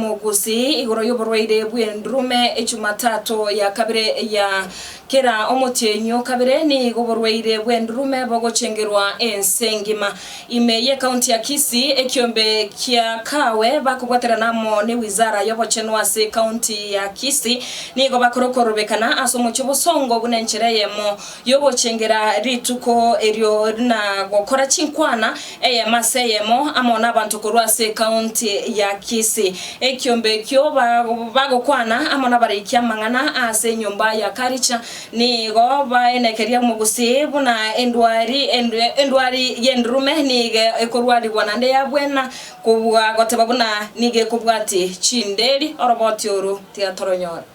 Omogusii igoro y'oborwaire bw'endurume Echumatatu ya kabere ya kera omotienyi o kabere nigo oborwaire bw'endurume bogochengerwa ense engima. Ime y'ecounty ya Kisii, ekiombe kia Kawe bakobwaterana amo ne Wizara y'obochenu ase ecounty ya Kisii nigo bakorokorobekana ase omochie obosongo buna enchera eyemo y'ogochengera rituko erio na gokora chinkwana Eyemo ase eyemo amo nabanto korwa ase ekaunti ya Kisii. Ekiombe ekio bagokwana amo nabareiki amang'ana aase enyomba ya Karicha nigo baenekeria omogusii buna endwari endwari y'endurume nigo ekorwarigwa nande yabwena kobua goteba buna nigo ekobwati chinderi oroboti oru tigatoronyora.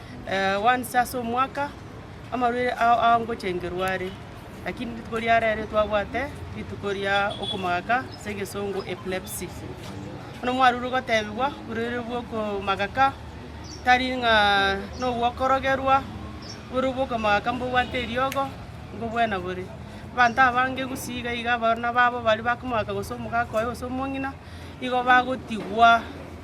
once ase omwaka, amarwaire ao agochengerwa are, lakini rituko ria rero twabwate rituko ria okomagaka ase egesongo epilepsy. Bono mwarurwa gotebigwa oborwaire bwa okomagaka tari ng'a na ogokorogerwa, oborwaire bwa okomagaka mbobwate eriogo, mbobwena bore. Abanto abange gusii iga iga abana babo baria bakomagaka gose omogaka oye gose omong'ina. igo bagotigwa,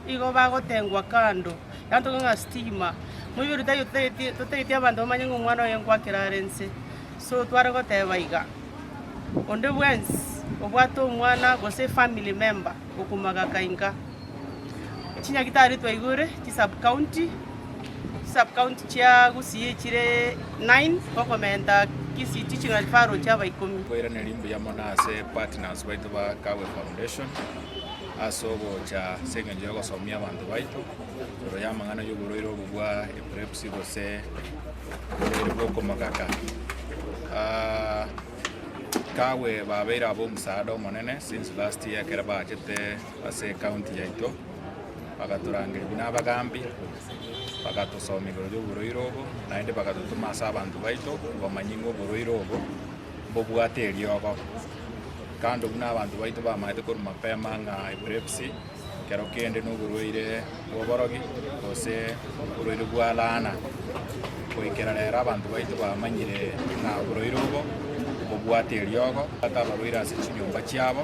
igo bagotengwa kando, egento kegima na stigma. Moiberio tari totageti totageti abanto bamanye ng'a omwana oye ngoakera are inse, so tware goteba iga, onde bwensi obwate omwana gose efamily member okomogaka inka. Chinyagitari twaigure, chi sub county. Chisubcounty chia Gusii chire nine, gokomenta Kisii Teaching and Referral chiaba ikomi. Nkoiraneria mbuya mono ase partners baito ba Kawe Foundation ase ogocha ase engencho ya ogosomia abanto baito igoro ya amang'ana y'oborwaire obo bwa epilepsy gose oborwaire bwa okomogaka. Ah, Kawe babeire aba omosaada omonene since last year ekero baachete ase ekaunti yaito, bagatorangeria buna abagaambi, bagatosomia igoro y'oborwaire obo, naende bagatotoma ase abanto baito komanya ng'a oborwaire obo mbobwate eriogo. Kando buna abanto baito bamanyete korwa mapema ng'a epilepsy ekero kende na oborwaire bw'oborogi gose oborwaire bwa laana. Goikera rero abanto baito bamanyire ng'a oborwaire obo mbobwate eriogo, bwate abarwaire ase chinyomba chiabo.